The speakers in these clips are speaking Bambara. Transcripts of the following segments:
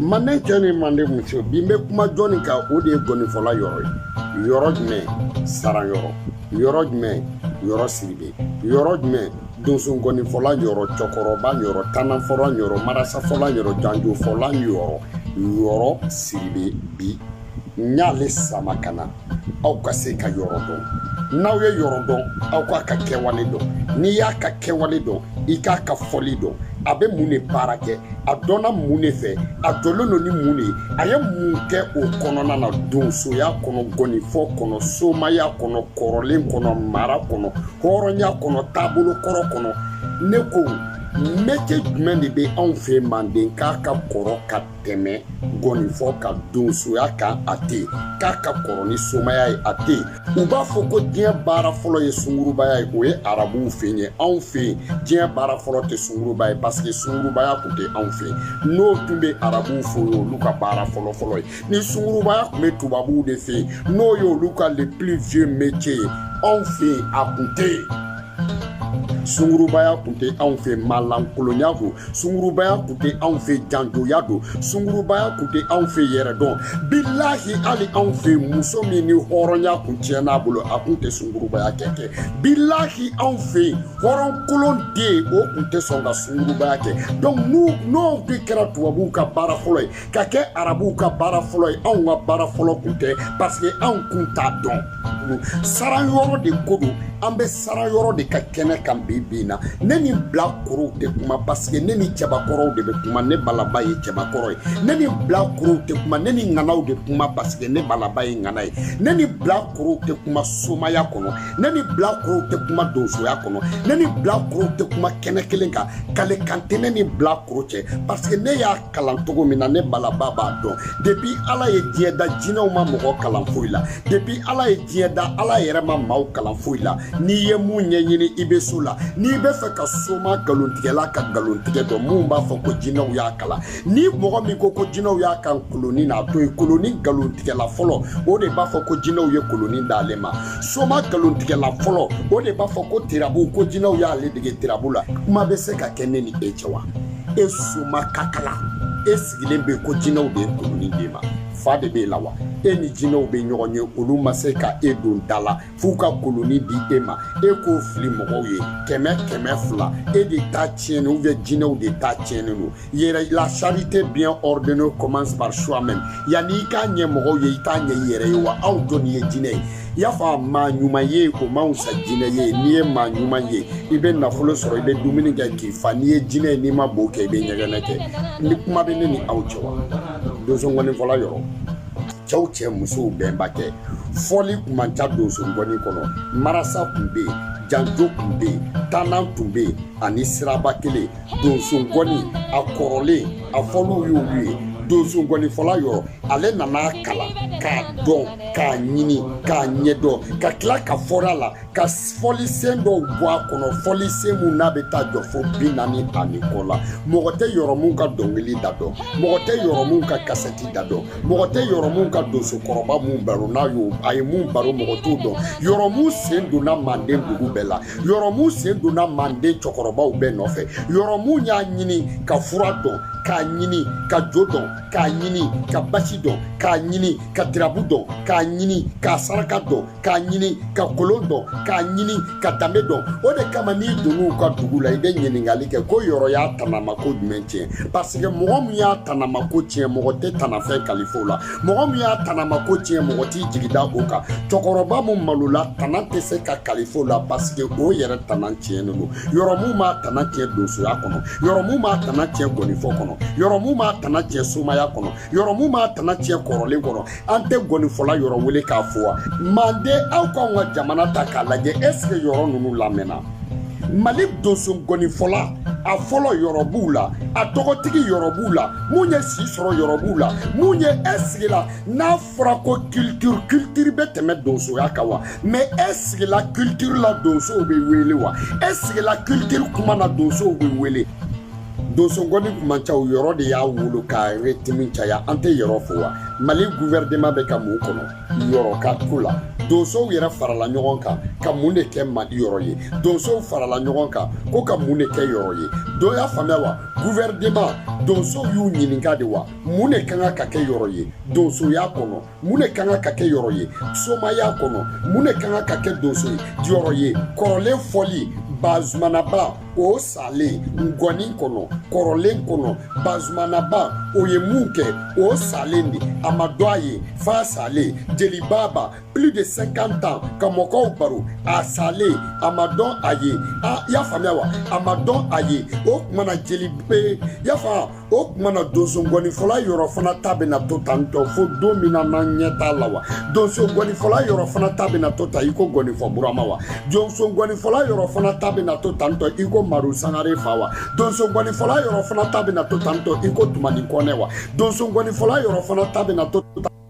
manden cɛ ni manden muso bi n bɛ kuma jɔni kan o de ye gɔnifɔla yɔrɔ ye yɔrɔ jumɛn saran yɔrɔ yɔrɔ jumɛn yɔrɔ sidibe yɔrɔ jumɛn donso gɔnifɔla yɔrɔ cɛkɔrɔba yɔrɔ tananfɔla yɔrɔ marasafɔla yɔrɔ janjofɔla yɔrɔ yɔrɔ sidibe bi n y'ale sama ka na aw ka se ka yɔrɔ dɔn n'aw ye yɔrɔ dɔn aw k'a ka kɛwale dɔn n'i y'a ka kɛwale dɔn i k'a ka fɔli dɔn a bɛ mun de baara kɛ a dɔnna mun de fɛ a jɔlen don ni mun de ye a ye mun kɛ o kɔnɔna na donsoya kɔnɔ gɔnifɔ kɔnɔ somaya kɔnɔ kɔrɔlen kɔnɔ mara kɔnɔ hɔrɔnya kɔnɔ taabolo kɔrɔ kɔnɔ ne ko métier jumɛn de bɛ anw fɛ manden k'a ka kɔrɔ ka tɛmɛ gɔnifɔ ka donsoya kan a tɛ yen k'a ka kɔrɔ ni somaya ye a tɛ yen u b'a fɔ ko diɲɛ baara fɔlɔ ye sungurubaya ye o ye arabuw fɛ yen anw fɛ yen diɲɛ baara fɔlɔ tɛ sunguruba ye parce que sungurubaya tun tɛ anw fɛ yen n'o tun bɛ arabuw fɛ yen olu ka baara fɔlɔ fɔlɔ ye ni sungurubaya tun bɛ tubabuw de fɛ yen n'o ye olu ka le plus vieux métier ye anw fɛ yen a tun tɛ yen sungurubaya tun tɛ anw fɛ maalankolonya don sungurubaya tun tɛ anw fɛ janjoya don sungurubaya tun tɛ anw fɛ yɛrɛdɔn bilahi hali anw fɛ muso min ni hɔrɔnya tun tiɲɛn'a bolo a tun tɛ sungurubaya kɛ kɛ bilahi anw fɛ yen hɔrɔn kolon den o tun tɛ sɔn ka sungurubaya kɛ donc n'o n'o de kɛra tubabuw ka baara fɔlɔ ye ka kɛ arabuw ka baara fɔlɔ ye anw ka baara fɔlɔ kun tɛ parce que anw kun t'a dɔn saran yɔrɔ de ko don an bɛ saran yɔrɔ de ka kɛnɛ kan bi bi in na ne ni bilakorow tɛ kuma parce que ne ni cɛbakɔrɔw de bɛ kuma ne balaba ye cɛbakɔrɔ ye ne ni bilakorow tɛ kuma ne ni ŋanaw de kuma parce que ne balaba ye ŋana ye ne ni bilakorow tɛ kuma somaya kɔnɔ ne ni bilakorow tɛ kuma donsoya kɔnɔ ne ni bilakorow tɛ kuma kɛnɛ kelen kan kale kan tɛ ne ni bilakoro cɛ parce que ne y'a kalan cogo min na ne balaba b'a dɔn depuis ala ye diɲɛ da jinɛw ma mɔgɔ kalan foyi la depuis ala ye diɲɛ da ala yɛrɛ ma maaw kalan foyi la n'i ye mun ɲɛɲini i be s'o la n'i be fɛ ka soma galontigɛla ka galontigɛ dɔn minw b'a fɔ ko jinɛw y'a kalan ni mɔgɔ min ko ko jinɛw y'a kalan koloni na o ye koloni galontigɛla fɔlɔ o de b'a fɔ ko jinɛw ye koloni d'ale ma soma galontigɛla fɔlɔ o de b'a fɔ ko turabu ko jinɛw y'ale dege turabu la kuma be se ka kɛ ne ni e cɛ wa e soma kakala e sigilen bɛ ko jinɛw de ye koloni d'e ma fa de b'e la wa e ni jinɛw bɛ ɲɔgɔn ye olu ma se ka e don da la f'u ka koloni di e ma e k'o fili mɔgɔw ye kɛmɛ kɛmɛ fila e de ta tiɲɛni ou bien jinɛw de ta tiɲɛni don yɛrɛ la charité bien ordonnée commence par soi-même yanni i k'a ɲɛ mɔgɔw ye i t'a ɲɛ i yɛrɛ ye wa aw jɔni ye jinɛ ye i y'a fɔ a maa ɲuman ye o man fisa jinɛ ye n'i ye maa ɲuman ye i bɛ nafolo sɔrɔ i bɛ dumuni kɛ k'i fa n'i ye jinɛ ye n'i ma bo kɛ i bɛ ɲɛgɛnɛ kɛ ni kuma bɛ ne ni aw cɛ wa donso ŋɔni fɔla yɔrɔ cɛw cɛ musow bɛnba tɛ fɔli kun man ca donso ŋɔni kɔnɔ marasa tun bɛ yen janjo tun bɛ yen tannan tun bɛ yen ani siraba kelen donso ŋɔni a kɔrɔlen a fɔliw y'olu ye donsonkɔnifɔla yɔrɔ ale nan'a kalan k'a dɔn k'a ɲini k'a ɲɛdɔn ka tila ka fɔra la ka fɔlisen dɔw bɔ a kɔnɔ fɔlisen min n'a bɛ taa jɔ fo bi naani ani kɔ la mɔgɔ tɛ yɔrɔmu ka dɔnkili da dɔn mɔgɔ tɛ yɔrɔmu ka kasɛti da dɔn mɔgɔ tɛ yɔrɔmu ka donsokɔrɔba mun baro ni a ye mun baro mɔgɔ t'o dɔn yɔrɔmu sen donna manden dugu bɛɛ la yɔrɔmu sen donna manden cɛkɔrɔbaw bɛɛ nɔfɛ yɔrɔmu y'a ɲini ka fura dɔn k'a ɲini ka jo dɔn k'a ɲini ka basi dɔn k'a ɲini ka tirabu dɔn k'a ɲini ka saraka dɔn k'a ɲini ka kolon dɔn k'a ɲini ka danbe dɔn o de kama n'i donn'u ka dugu la i bɛ ɲininkali kɛ ko yɔrɔ y'a tanamako jumɛn tiɲɛ parce que mɔgɔ min y'a tanamako tiɲɛ mɔgɔ tɛ tanafɛn kalif'o la mɔgɔ min y'a tanama ko tiɲɛ mɔgɔ t'i jigi da o kan cɛkɔrɔba min malola tana tɛ se ka kalif'o la pasike o yɛrɛ tana tiɲɛnen don yɔrɔ min m'a tana tiɲɛ donsoya kɔnɔ yɔrɔ min m'a tana tiɲɛ gɔnifɔ kɔnɔ yɔrɔ min m'a tana tiɲɛ somaya kɔnɔ yɔrɔ min m'a tana tiɲɛ kɔrɔlen kɔnɔ an tɛ gɔnifɔla yɔrɔ wele k'a fɔ wa manden aw k'aw ka jamana ta k'a lajɛ ɛseke yɔrɔ ninnu lamɛnna mali donso gɔnifɔla a fɔlɔ yɔrɔ b'u la a tɔgɔtigi yɔrɔ b'u la mun ye si sɔrɔ yɔrɔ b'u la mun ye e sigila n'a fɔra ko kilitiri kilitiri bɛ tɛmɛ donsoya kan wa mɛ e sigila kilitiri la donsow bɛ wele wa e sigila kilitiri kuma na donsow bɛ wele donsogɔni kun man ca o yɔrɔ de y'a wolo ka retimi caya an tɛ yɔrɔ fo wa mali guvɛrɛnema bɛ ka mun kɔnɔ yɔrɔ ka ko la donsow yɛrɛ farala ɲɔgɔn kan ka mun de kɛ mali yɔrɔ ye donsow farala ɲɔgɔn kan ko ka mun de kɛ yɔrɔ ye dɔw y'a faamuya wa guvɛrɛnema donsow y'u ɲininka de wa mun de ka kan ka kɛ yɔrɔ ye donsoya kɔnɔ mun de ka kan ka kɛ yɔrɔ ye somaya kɔnɔ mun de ka kan ka kɛ donso yɔrɔ ye kɔrɔlen fɔli bazumanaba o salen ngɔni kɔnɔ kɔrɔlen kɔnɔ bazumanaba o ye mun kɛ o salen de a ma dɔn a ye f'a salen jelibaba plus de 50 ans ka mɔgɔw baro a salen a ma dɔn a ye a y'a faamuya wa a ma dɔn a ye o tuma na jeli bɛɛ y'a faamu o tuma na donso gɔnifɔla yɔrɔ fana ta bɛna to tan tɔ fo don min na n'an ɲɛ t'a la wa donso gɔnifɔla yɔrɔ fana ta bɛna to tan i ko gɔnifɔ burama wa donso gɔnifɔla yɔrɔ fana ta bɛna to tan tɔ i ko maru sangare fa wa donso gɔnifɔla yɔrɔ fana ta bɛna to tan tɔ i ko tumani kɔnɛ wa donso gɔnifɔla yɔrɔ fana ta bɛna to tan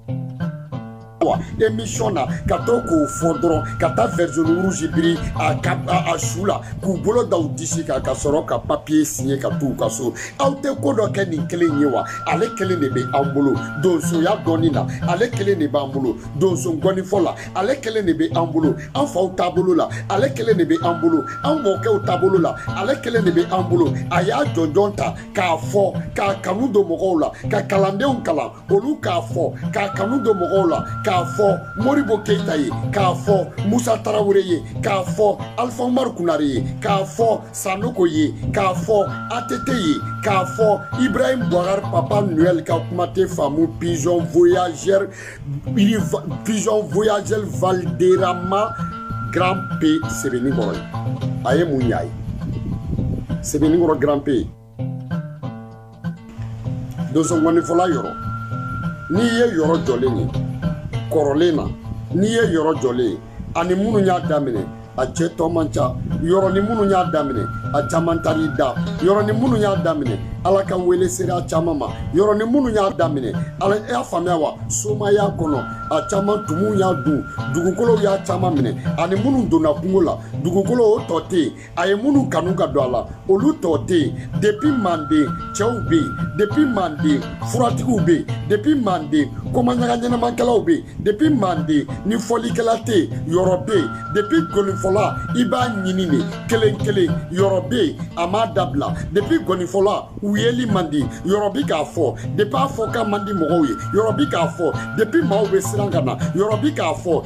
wa émission na ka to k'o fɔ dɔrɔn ka taa vert jaune rouge biri a ka a su la k'u bolo da u disi kan ka sɔrɔ ka papiye siɲɛ ka t'u ka so aw tɛ ko dɔ kɛ nin kelen ye wa ale kelen de bɛ an bolo donsoya dɔnni na ale kelen de b'an bolo donso ngɔnifɔ la ale kelen de bɛ an bolo an faw taabolo la ale kelen de bɛ an bolo an mɔkɛw taabolo la ale kelen de bɛ an bolo a y'a jɔnjɔn ta k'a fɔ k'a kanu don mɔgɔw la ka kalandenw kalan olu k'a fɔ k'a kanu don mɔgɔw la k'a fɔ moribo keyita ye k'a fɔ musa tarawele ye k'a fɔ alifa umaru konare ye k'a fɔ sanoko ye k'a fɔ atete ye k'a fɔ ibrahim bubakari papa noel ka kuma tɛ faamu pigeon voyageur pigeon voyageur valderama grand p sebeninkɔrɔ ye a ye mun ɲ'a ye sebeninkɔrɔ grand p donsongɔnifɔla yɔrɔ n'i ye yɔrɔ jɔlen ye kɔrɔlen na n'i ye yɔrɔ jɔlen ye a ni minnu y'a daminɛ a cɛ tɔ man ca yɔrɔ ni minnu y'a daminɛ a caman taar'i da yɔrɔ ni minnu y'a daminɛ ala ka wele sera a caman ma yɔrɔ ni minnu y'a daminɛ a y'a faamuya wa somaya kɔnɔ a caman tumuw y'a dun dugukolow y'a caman minɛ a ni minnu donna kungo la dugukolo o tɔ tɛ yen a ye minnu kanu ka don a la olu tɔ tɛ yen depi manden cɛw bɛ yen depi manden furatigiw bɛ yen depi manden komaɲaga ɲɛnamakɛlaw bɛ yen depi manden ni fɔlikɛla tɛ yen yɔrɔ bɛ yen depi ngɔnifɔla i b'a ɲini de kelen kelen yɔrɔ bɛ yen a m'a dabila depi ngɔnifɔla u yeli man di yɔrɔ bi k'a fɔ depi a fɔkan man di mɔgɔw ye yɔrɔ bi k'a fɔ depi maaw bɛ siran ka na yɔrɔ bi k'a fɔ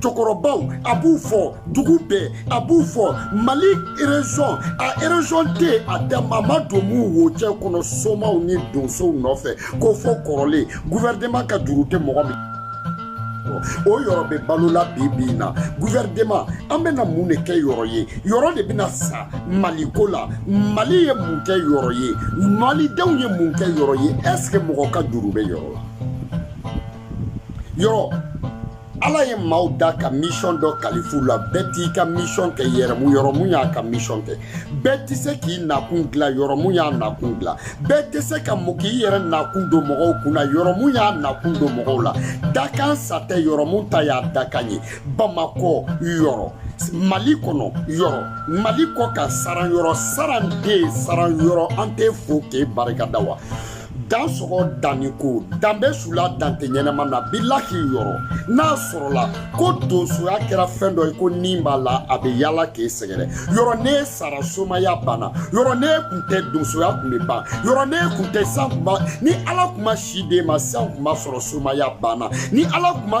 cɛkɔrɔbaw a b'u fɔ dugu bɛɛ a b'u fɔ mali erezɔn a erezɔn tɛ a dama a ma don mun wo cɛ kɔnɔ somaw ni donsow nɔfɛ ko fɔ kɔrɔlen guvɛrɛnɛman ka juru tɛ mɔgɔ min o yɔrɔ bɛ balo la bi bi in na guvɛrɛnɛman an bɛna mun de kɛ yɔrɔ ye yɔrɔ de bɛna sa mali ko la mali ye mun kɛ yɔrɔ ye malidenw ye mun kɛ yɔrɔ ye ɛseke mɔgɔ ka juru bɛ yɔrɔ la yɔrɔ ala ye maaw da ka misiyɔn dɔ kalif'u la bɛɛ t'i ka misiyɔn kɛ yɛrɛmu yɔrɔ mun y'a ka misiyɔn kɛ bɛɛ tɛ se k'i nakun dilan yɔrɔ mun y'a nakun dilan bɛɛ tɛ se ka mɔ k'i yɛrɛ nakun don mɔgɔw kun na yɔrɔ mun y'a nakun don mɔgɔw la dakan sa tɛ yɔrɔ mun ta y'a dakan ye bamakɔ yɔrɔ mali kɔnɔ yɔrɔ mali kɔkan saran yɔrɔ saran den saran yɔrɔ an t'e fo k'e barika da wa dan sɔgɔ danni ko dan bɛ su la dan tɛ ɲɛnama na bilahi yɔrɔ n'a sɔrɔla ko donsoya kɛra fɛn dɔ ye ko ni b'a la a bɛ yaala k'e sɛgɛrɛ yɔrɔ ni e sara somaya banna yɔrɔ ni e kun tɛ donsoya kun bɛ ban yɔrɔ ni e kun tɛ san kɛmɛ ni ala kun ma si di e ma san kɛmɛ sɔrɔ somaya banna ni ala kun ma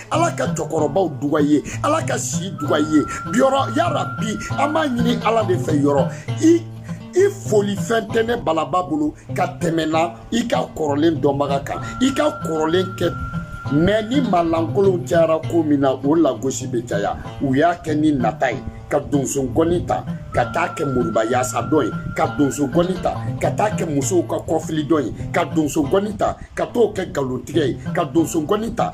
ala ka cɛkɔrɔbaw duga i ye ala ka si duga i ye yɔrɔ yarabi an b'a ɲini ala de fɛ yɔrɔ i i foli fɛn tɛ ne balaba bolo ka tɛmɛna i ka kɔrɔlen dɔnbaga kan i ka kɔrɔlen kɛ mɛ ni malankolonw cayara ko min na o lagosi bɛ caya u y'a kɛ ni nata ye ka donso gɔni ta ka t'a kɛ moribayaasa dɔn ye ka donso gɔni ta ka t'a kɛ musow ka kɔfili dɔn ye ka donso gɔni ta ka t'o kɛ nkalontigɛ ye ka donso gɔni ta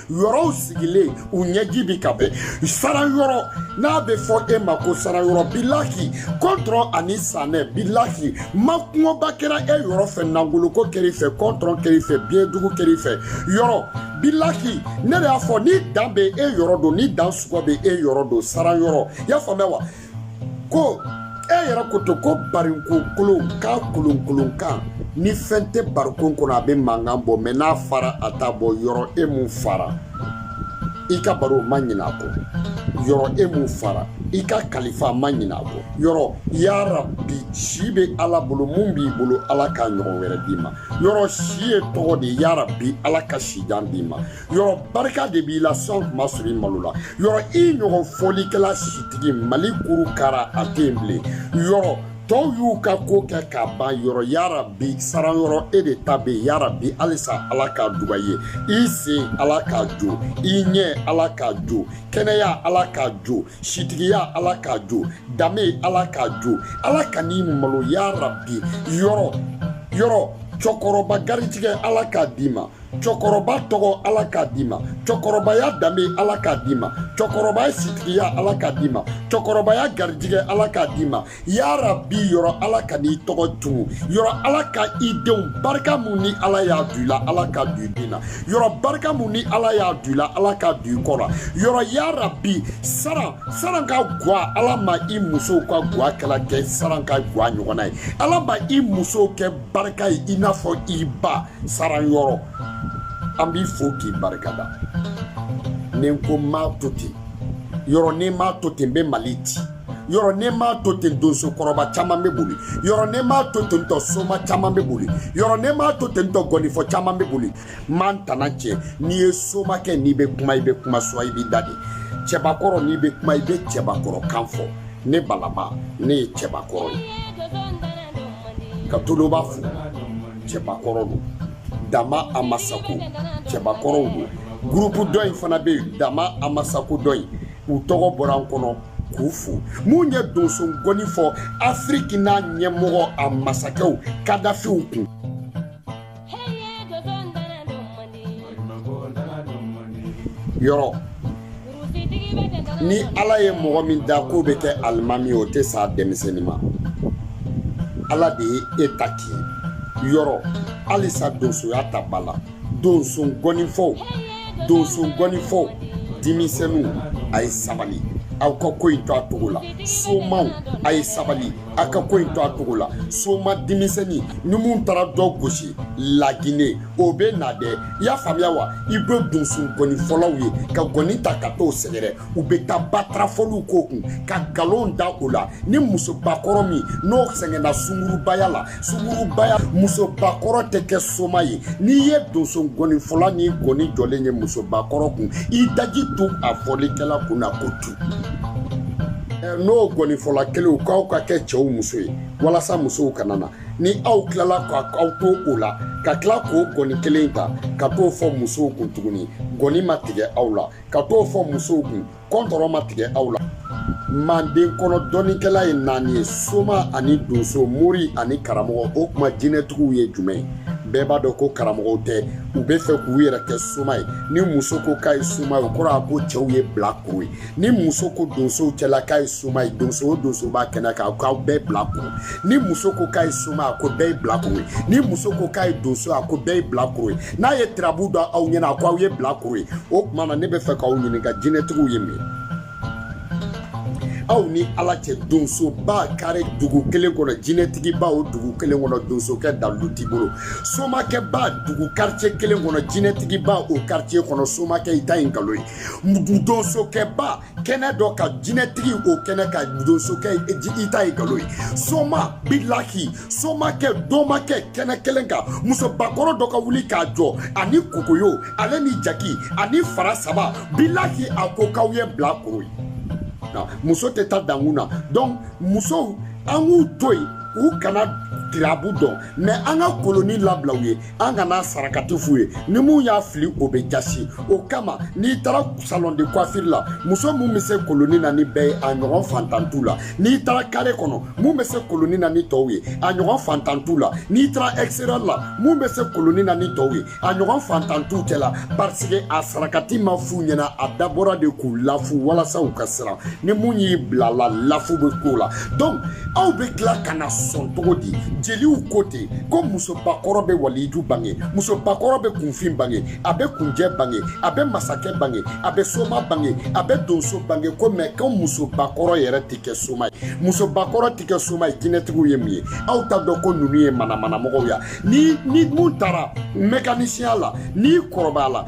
yɔrɔw sigilen u ɲɛji bi ka bɔn saran yɔrɔ n'a bɛ fɔ e ma ko saran yɔrɔ bilaki kɔntɔrɔn ani sanɛ bilaki makungoba kɛra e yɔrɔ fɛ nangoloko kɛr'i fɛ kɔntɔrɔn kɛr'i fɛ biɲɛdugu kɛr'i fɛ yɔrɔ bilaki ne de y'a fɔ ni dan bɛ e yɔrɔ don ni dan sɔgɔ bɛ e yɔrɔ don saran yɔrɔ i y'a faamuya wa ko e yɛrɛ ko to ko barikon kolon k'a kolonkolon kan ni fɛn tɛ barikon kɔnɔ a bɛ mankan bɔ mɛ n'a fara a t'a bɔ yɔrɔ e mun fara i ka baro ma ɲinɛ a kɔ yɔrɔ e mun fara i ka kalifa ma ɲinɛ a kɔ yɔrɔ yarabi si bɛ ala bolo mun b'i bolo ala k'a ɲɔgɔn wɛrɛ d'i ma yɔrɔ si ye tɔgɔ de yarabi ala ka sijan d'i ma yɔrɔ barika de b'i la san kɛmɛ sɔrɔ i malo la yɔrɔ i ɲɔgɔn fɔlikɛla sitigi mali kuru kara a tɛ yen bilen yɔrɔ tɔw y'u ka ko kɛ ka ban yɔrɔ yarabi saran yɔrɔ e de ta bɛ yen yarabi halisa ala ka duga ye i sen ala ka jo i ɲɛ ala ka jo kɛnɛya ala ka jo sitigiya ala ka jo danbe ala ka jo ala kan'i malo yarabi yɔrɔ yɔrɔ cɛkɔrɔba garijigɛ ala k'a d'i ma cɛkɔrɔba tɔgɔ ala k'a d'i ma cɛkɔrɔbaya danbe ala k'a d'i ma cɛkɔrɔbaya sitigiya ala k'a d'i ma cɛkɔrɔbaya garijigɛ ala k'a d'i ma yarabi yɔrɔ ala kan'i tɔgɔ tunun yɔrɔ ala ka i denw barika min ni ala y'a du i la ala k'a du i den na yɔrɔ barika min ni ala y'a du i la ala k'a du i kɔ la yɔrɔ yarabi saran saran ka gwa ala ma i musow ka gwa kɛla kɛ saran ka gwa ɲɔgɔnna ye ala ma i musow kɛ barika ye i n'a fɔ i ba saran yɔrɔ an b'i fo k'i barika da ni n ko m'a to ten yɔrɔ ni m'a to ten n bɛ mali ci yɔrɔ ne m'a to ten donso kɔrɔba caman bɛ boli yɔrɔ ne m'a to ten tɔ soma caman bɛ boli yɔrɔ ne m'a to ten tɔ gɔnifɔ caman bɛ boli m'an tana tɛ n'i ye somakɛ n'i bɛ kuma i bɛ kuma suwa i b'i da de cɛbakɔrɔ n'i bɛ kuma i bɛ cɛbakɔrɔ kan fɔ ne balaba ne ye cɛbakɔrɔ ye ka toloba fo cɛbakɔrɔ don dama amasako cɛbakɔrɔw don gurupu dɔ in fana bɛ yen dama amasako dɔ in u tɔgɔ bɔra an kɔnɔ k'u fo min ye donso gɔni fɔ afiriki n'a ɲɛmɔgɔ a masakɛw kadafiw kun ni ala ye mɔgɔ min da k'o bɛ kɛ alimami o tɛ sa denmisɛnnin ma ala de ye e ta k'i yɔrɔ halisa donsoya ta ba la donso gɔnifɔw donso gɔnifɔw denmisɛnninw a ye sabali aw ka ko in to a cogo la somaw a ye sabali aw ka ko in to a cogo la soma denmisɛnnin ni min taara dɔ gosi lagine o bɛ na dɛ i y'a faamuya wa i bɛ donso gɔni fɔlaw ye ka gɔni ta ka t'o sɛgɛrɛ u bɛ taa batarafɔliw k'o kun ka nkalon da o la ni musobakɔrɔ min n'o sɛgɛnna sungurubaya la sungurubaya musobakɔrɔ tɛ kɛ soma ye n'i ye donso gɔni fɔla n'i gɔni jɔlen ye musobakɔrɔ kun i daji tu a fɔlikɛla kun na ko tu n'o gɔnifɔla kelenw k'aw ka kɛ cɛw muso ye walasa musow kana na ni aw tilala k'aw to o la ka tila k'o gɔni kelen ta ka t'o fɔ musow kun tuguni gɔni ma tigɛ aw la ka t'o fɔ musow kun kɔntɔrɔ ma tigɛ aw la manden kɔnɔ dɔnnikɛla ye naani ye soma ani donso mori ani karamɔgɔ o kuma jinɛtigiw ye jumɛn bɛɛ b'a dɔn ko karamɔgɔw tɛ u bɛ fɛ k'u yɛrɛ kɛ soma ye ni muso ko k'a ye soma ye o kɔrɔ a ko cɛw ye bilakoro ye ni muso ko donso cɛla k'a ye soma ye donso o donso b'a kɛnɛ kan k'aw bɛɛ bilakoro ni muso ko k'a ye soma a ko bɛɛ ye bilakoro ye ni muso ko k'a ye donso a ko bɛɛ ye bilakoro ye n'a ye tirabu dɔn aw ɲɛna a ko aw ye bilakoro ye o tuma na ne bɛ fɛ k'aw ɲininka jinɛtigiw ye min aw ni ala cɛ donsoba kare dugu kelen kɔnɔ jinɛtigiba o dugu kelen kɔnɔ donsokɛ dalilu t'i bolo somakɛba dugu karicɛ kelen kɔnɔ jinɛtigiba o karicɛ kɔnɔ somakɛ i ta ye nkalon ye donsokɛba kɛnɛ dɔ kan jinɛtigi o kɛnɛ kan donsokɛ i ta ye nkalon ye soma bilaki somakɛ dɔmakɛ kɛnɛ kelen kan musobakɔrɔ dɔ ka wuli k'a jɔ ani kokoyo ale ni jaki ani fara saba bilaki a ko k'aw ye bilakoro ye muso tɛ taa dankun na donc musow an k'u to yen u kana tirabu dɔn mais an ka koloni labila u ye an kana sarakati f'u ye ni mun y'a fili o bɛ jasi o kama n'i taara salon de coiffure la muso mun bɛ se koloni na ni bɛɛ ye a ɲɔgɔn fantan t'u la n'i taara kare kɔnɔ mun bɛ se koloni na ni tɔw ye a ɲɔgɔn fantan t'u la n'i taara extérieur la mun bɛ se koloni na ni tɔw ye a ɲɔgɔn fantan t'u cɛ la parce que a sarakati ma f'u ɲɛna a dabɔra de k'u lafu walasa u ka siran ni mun y'i bila a la lafu bɛ k'o la donc aw bɛ tila ka na sɔn cogo di jeliw ko ten ko musobakɔrɔ bɛ waliju bange musobakɔrɔ bɛ kunfin bange a bɛ kunjɛ bange a bɛ masakɛ bange a bɛ soma bange a bɛ donso bange ko mɛ ko musobakɔrɔ yɛrɛ tɛ kɛ soma ye musobakɔrɔ tɛ kɛ soma ye jinɛtigiw ye min ye aw t'a dɔn ko ninnu ye manamanamɔgɔw ye ni ni mun taara mɛkanisiya la n'i kɔrɔbaya la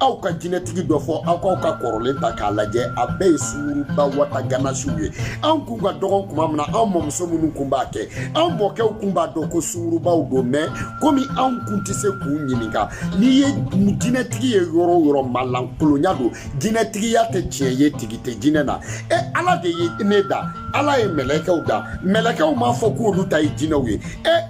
aw ka jinɛtigi dɔ fɔ aw k'aw ka kɔrɔlen ta k'a lajɛ a bɛɛ ye sunguruba wata ganasiw ye anw kun ka dɔgɔn kuma min na anw mɔmuso minnu kun b'a kɛ anw mɔkɛw kun b'a dɔn ko sungurubaw don mɛ komi anw kun tɛ se k'u ɲininka n'i ye jinɛtigi ye yɔrɔ o yɔrɔ malankolonya don jinɛtigiya tɛ tiɲɛ ye tigi tɛ jinɛ na e ala de ye ne da ala ye mɛlɛkɛw da mɛlɛkɛw m'a fɔ k'olu ta ye jinɛw ye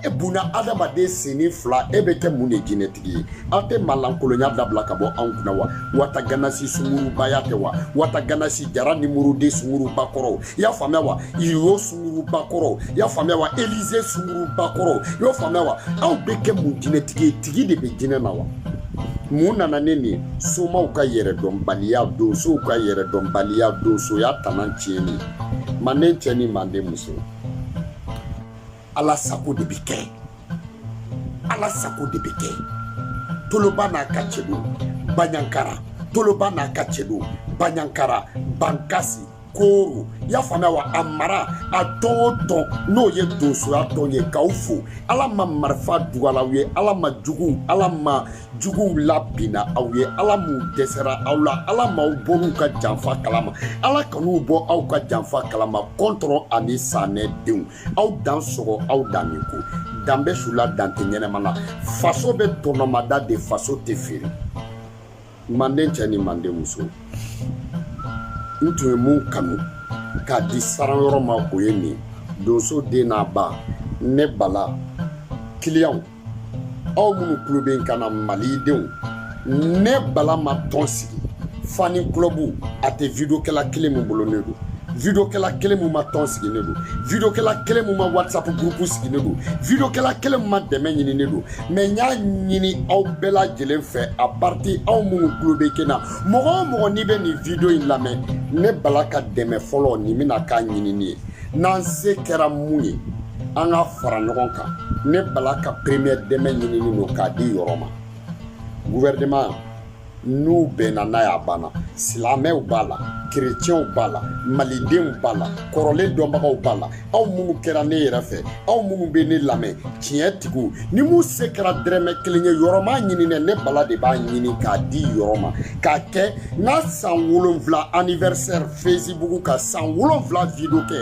e bunadamaden senni fila e bɛ kɛ mun de jinɛtigi ye aw tɛ malankolonya dabila ka bɔ anw kunna wa wata ganasi sungurubaya tɛ wa wata ganasi jara numéro deux sunguruba kɔrɔw i y'a faamuya wa iro sunguruba kɔrɔw i y'a faamuya wa elize sunguruba kɔrɔw i y'o faamuya wa aw bɛ kɛ mun jinɛtigi ye tigi de bɛ jinɛ na wa mun nana ni nin somaw ka yɛrɛdɔnbaliya donsow ka yɛrɛdɔnbaliya donsoya tana tiɲɛni manden cɛ ni manden muso ala sago de bɛ kɛ ala sago de bɛ kɛ toloba n'a ka cɛdenw baɲankara toloba n'a ka cɛdenw baɲankara bankasi koro i y'a faamuya wa a mara a tɔn o tɔn n'o ye donsoya tɔn ye k'aw fo ala ma marifa dugal'aw ye ala ma juguw ala ma juguw labinna aw ye ala m'u dɛsɛra aw la ala m'aw bɔr'u ka janfa kalama ala kan'u bɔ aw ka janfa kalama kɔntɔrɔ ani sanɛ denw aw dansɔgɔ aw dan min ko dan bɛ su la dan tɛ ɲɛnama na faso bɛ tɔnɔmada de faso tɛ feere manden cɛ ni manden muso n tun ye mun kanu k'a di saran yɔrɔ ma o ye nin donso den n'a ba ne bala kiliyanw aw minnu tulo bɛ n kan na malidenw ne bala ma tɔn sigi fan club a tɛ videokɛla kelen min bolo ne don videokɛla kelen min ma tɔn sigi ne don videokɛla kelen min ma whatsapp gurupu sigi ne don videokɛla kelen min ma dɛmɛ ɲini ne don mɛ n y'a ɲini aw bɛɛ lajɛlen fɛ a parti aw minnu tulo bɛ n kan na mɔgɔ o mɔgɔ n'i bɛ nin video in lamɛn ne bala ka dɛmɛ fɔlɔ nin bɛna k'a ɲinini ye n'an se kɛra mun ye an ka fara ɲɔgɔn kan ne bala ka premier dɛmɛ ɲinini don k'a di yɔrɔ ma gouvernement n'u bɛnna n'a y'a banna silamɛw b'a la kerecɛnw b'a la malidenw b'a la kɔrɔlen dɔnbagaw b'a la aw minnu kɛra ne yɛrɛ fɛ aw minnu bɛ ne lamɛn tiɲɛ tigiw ni min se kɛra dɛrɛmɛ kelen ye yɔrɔ m'a ɲini dɛ ne bala de b'a ɲini k'a di yɔrɔ ma k'a kɛ n ka san wolonwula anniversaire fesibugu ka san wolonfila video kɛ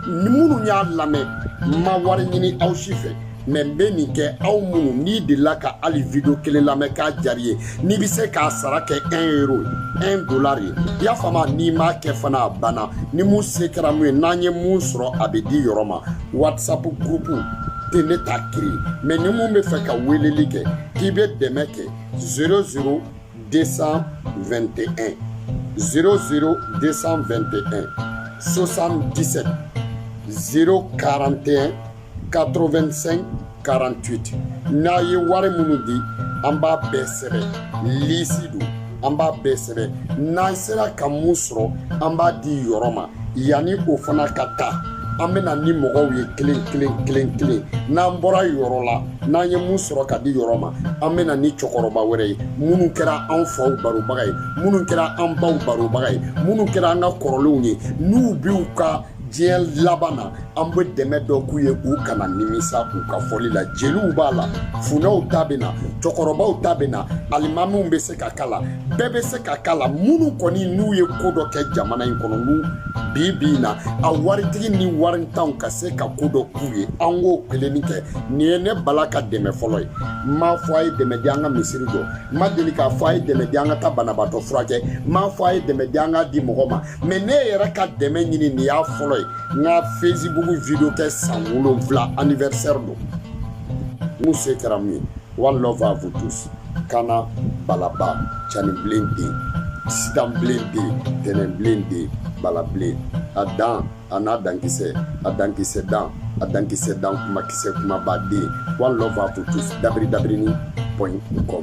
ni minnu y'a lamɛn n ma wari ɲini aw si fɛ mɛ n bɛ nin kɛ aw minnu n'i delila ka hali video kelen lamɛn k'a jari ye n'i bɛ se k'a sara kɛ 1 euro 1 dollar ye i y'a faamu n'i m'a kɛ fana a banna ni mun se kɛra mun ye n'an ye mun sɔrɔ a bɛ di yɔrɔ ma whatsapp groupe tɛ ne ta kiri mɛ ni mun b'a fɛ ka weleli kɛ k'i bɛ dɛmɛ kɛ 00 221 00 221 77 041 85 48 n'a ye wari minnu di an b'a bɛɛ sɛbɛn lisi don an b'a bɛɛ sɛbɛn n'an sera ka mun sɔrɔ an b'a di yɔrɔ ma yanni o fana ka taa an bɛ na ni mɔgɔw ye kelen kelen kelen kelen n'an bɔra yɔrɔ la n'an ye mun sɔrɔ ka di yɔrɔ ma an bɛ na ni cɛkɔrɔba wɛrɛ ye minnu kɛra anw faw barobaga ye minnu kɛra an baw barobaga ye minnu kɛra an ka kɔrɔlenw ye n'u b'u ka diɲɛ laban na an bɛ dɛmɛ dɔ k'u ye u kana nimisa u ka fɔli la jeliw b'a la funɛw ta bɛ na cɛkɔrɔbaw ta bɛ na alimamiw bɛ se ka k'a la bɛɛ bɛ se ka k'a la minnu kɔni n'u ye ko dɔ kɛ jamana in kɔnɔ n'u bi bi in na a waritigi ni warintanw ka se ka ko dɔ k'u ye an k'o kelenni kɛ nin ye ne bala ka dɛmɛ fɔlɔ ye n m'a fɔ a ye dɛmɛ di an ka misiri jɔ n ma deli k'a fɔ a ye dɛmɛ di an ka taa banabaatɔ furakɛ n m'a fɔ a ye dɛmɛ di an ka di mɔgɔ ma mɛ ne yɛrɛ ka dɛmɛ ɲini nin y'a fɔlɔ ye n ka fesibuku video kɛ san wolonfila anniversaire don mun se kɛra mun ye One love à vous tous. Kana balaba cani bilen den sitan bilen den tɛnɛn bilen den bala bilen a dan a n'a dankisɛ a dankisɛ dan a dankisɛ dan kuma kisɛ kumaba den one love à vous tous dabiri dabirini point com